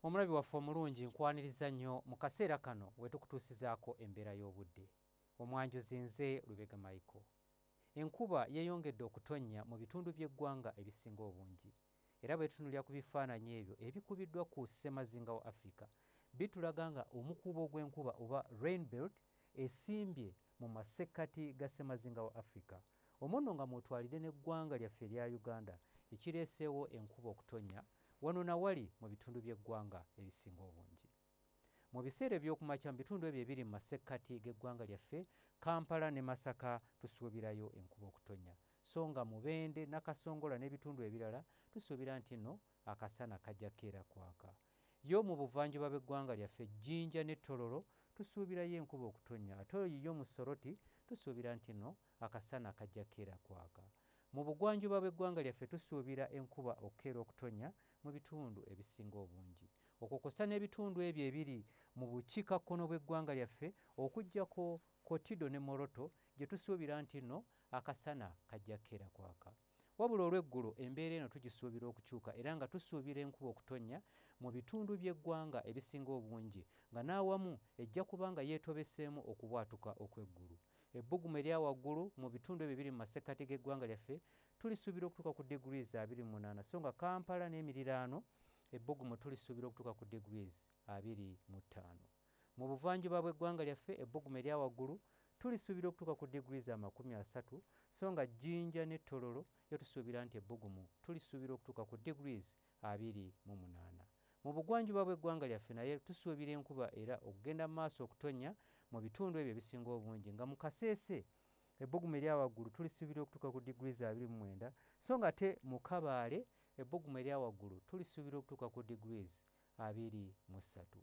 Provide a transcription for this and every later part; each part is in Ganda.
omulabi waffe omulungi nkwaniriza nnyo mu kaseera kano wetukutuusizaako embeera y'obudde omwanjuzi nze lubega michael enkuba yeyongedde okutonnya mu bitundu by'eggwanga ebisinga obungi era bwetunulira ku bifaananyi ebyo ebikubiddwa ku ssemazinga wa africa bitulaga nga omukuubo gw'enkuba oba rainbelt esimbye mu masekkati ga ssemazinga wa africa Omwo nno nga mw'otwalidde n'eggwanga lyaffe erya Uganda ekireeseewo enkuba okutonnya wano na wali mu bitundu by'eggwanga ebisinga obungi. Mu biseera eby'okumakya mu bitundu ebyo ebiri mu masekkati g'eggwanga lyaffe, Kampala ne Masaka tusuubirayo enkuba okutonnya so nga Mubende, Nakasongola n'ebitundu ebirala tusuubira nti nno akasana kajja keera kwaka. Yo mu buvanjuba bw'eggwanga lyaffe, Jinja ne Tororo, tusuubirayo enkuba okutonnya ate oyo yiyo mu Soroti tusuubira nti no akasana kajja keera kwaka. Mu bugwanjuba bw'eggwanga lyaffe tusuubira enkuba okukeera okutonnya mu bitundu ebisinga obungi. Okwo kwossa n'ebitundu ebyo ebiri mu bukiika kkono bw'eggwanga lyaffe okujjako Kotido ne Moroto gye tusuubira nti no akasana kajja keera kwaka. Wabula olw'eggulo embeera eno tugisuubira okukyuka era nga tusuubira enkuba okutonnya mu bitundu by'eggwanga ebisinga obungi nga n'awamu ejja kuba nga yeetobeseemu okubwatuka okw'eggulu. Ebbugumu erya waggulu mu bitundu ebyo ebiri mu masekkati g'eggwanga lyaffe tulisuubira okutuuka ku degrees abiri mu munaana so nga Kampala n'emiriraano ebbugumu tulisuubira okutuuka ku degrees abiri mu ttaano. Mu buvanjuba bw'eggwanga lyaffe ebbugumu erya waggulu tulisuubira okutuuka ku diguli za makumi asatu so nga Jinja ne Tororo yo tusuubira nti ebbugumu tulisuubira okutuuka ku degrees abiri mu munaana. Mu bugwanjuba bw'eggwanga lyaffe naye tusuubira enkuba era okugenda mu maaso okutonnya mu bitundu ebyo ebisinga obungi nga mu Kasese ebbugumu erya waggulu tulisuubira okutuuka ku diguli za abiri mu mwenda so nga te mu Kabaale ebbugumu erya waggulu tulisuubira okutuuka ku degrees abiri mu ssatu.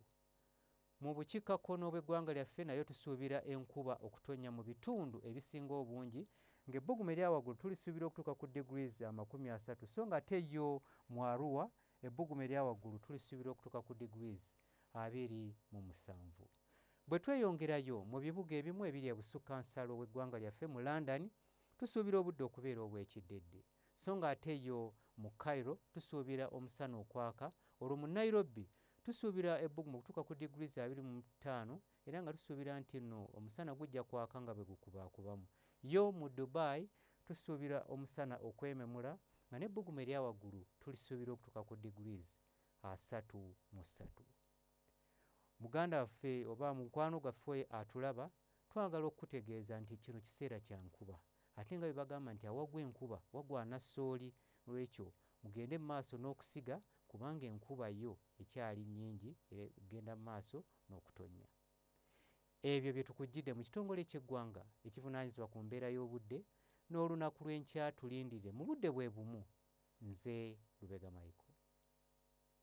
Mu bukiikakkono bw'eggwanga lyaffe nayo tusuubira enkuba okutonnya mu bitundu ebisinga obungi ng'ebbugumu erya waggulu tulisuubira okutuuka ku degrees amakumi asatu so nga ate yo mu Arua ebbugumu erya waggulu tulisuubira okutuuka ku degrees abiri mu musanvu. Bwe tweyongerayo mu bibuga ebimu ebiri ebusukka nsalo w'eggwanga lyaffe mu London tusuubira obudde okubeera obw'ekiddedde. so nga ate yo mu Cairo tusuubira omusana okwaka olwo mu Nairobi tusuubira ebbugumu okutuuka ku diguli za abiri mu ttaano era nga tusuubira nti nno omusana gujja kwaka nga bwe gukubaakubamu yo mu Dubai tusuubira omusana okwememula nga n'ebbugumu erya waggulu tulisuubira okutuuka ku diguli asatu mu ssatu muganda waffe oba mukwano gwaffe atulaba twagala okukutegeeza nti kino kiseera kya nkuba ate nga bebagamba nti awagwa enkuba wagwana sooli lwekyo mugende mu maaso n'okusiga kubanga enkuba yo ekyali nnyingi era egenda mu maaso n'okutonnya ebyo bye tukujjidde mu kitongole ky'eggwanga ekivunaanyizibwa ku mbeera y'obudde n'olunaku lw'enkya tulindire mu budde bwe bumu nze lubega mayiko